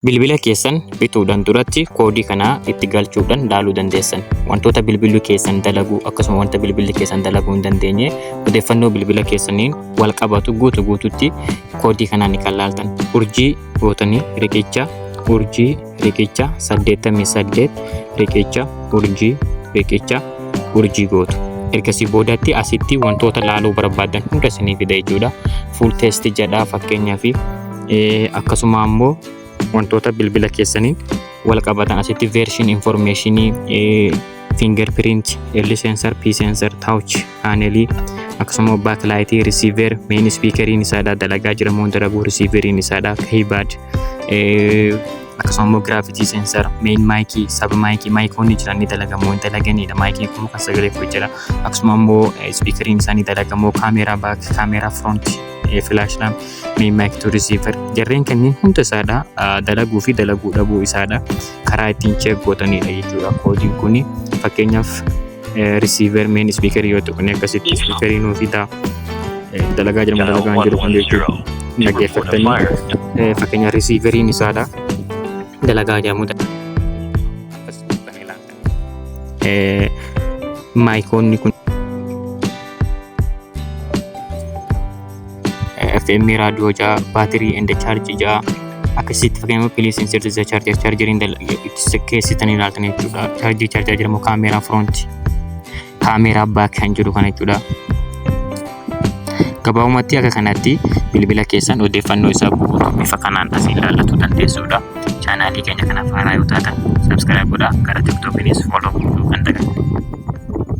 Bilbila keessan bituudhaan duratti koodii kana itti galchuudhaan ilaaluu dandeessan. Wantoota bilbilli keessan dalagu akkasuma wanta bilbilli keessan dalaguu hin dandeenye odeeffannoo bilbila keessaniin wal qabatu guutu guututti koodii kanaan kan laaltan. Urjii gootanii riqicha urjii riqicha 88 riqicha urjii riqicha urjii gootu. Ergasii boodatti asitti wantoota laaluu barbaadan hunda isinii fida jechuudha. Full test jedha fakkeenyaaf akkasuma ammoo wantoota bilbila keessaniin wal qabatan asitti version information fingerprint, L sensor, P sensor, touch panelii akkasuma backlight, receiver, main speakeriin isaadha dalagaa jira moo dalaguu receiveriin isaadha keyboard akkasuma immoo gravity sensor, main mic, sub mic, micoonni jiran ni dalagamoo hin dalaganiidha. Mic kun kan sagalee fudhu jira. Akkasuma immoo speakeriin isaa ni dalagamoo kaameeraa back, kaameeraa front, flash lamp mee maayik tu risiivar jarreen kanneen hunda isaadha dalaguu fi dalaguu dhabuu isaadha karaa ittiin cheek gootanidha jechuudha koodiin kun fakkeenyaaf risiivar meen ispiikarii yoo tuqne akkasitti ispiikarii nuu fidaa dalagaa jirma dalagaa hin jiru kan jechuudha dhaggeeffattanii fakkeenyaaf risiivariin isaadha dalagaa jedhamudha. eh, maayikoonni kun eh, FM raadiyoo ja'a baatirii and chaarjii ja'a akkasitti fakkeenyaaf piliis insirtisa chaarjii chaarjeriin keessitanii ilaaltan jechuudha chaarjii chaarjaa jedhamu kaameeraa firoonti kaameeraa baak kan jedhu kana jechuudha. Gabaabumatti akka kanatti bilbila keessan odeeffannoo isaa guutuu bifa kanaan asiin ilaallachuu dandeessuudha. Chaanaalii keenya kanaaf haaraa yoo taatan subscribe godhaa gara tiktokiinis follow gochuu kan dagatinaa.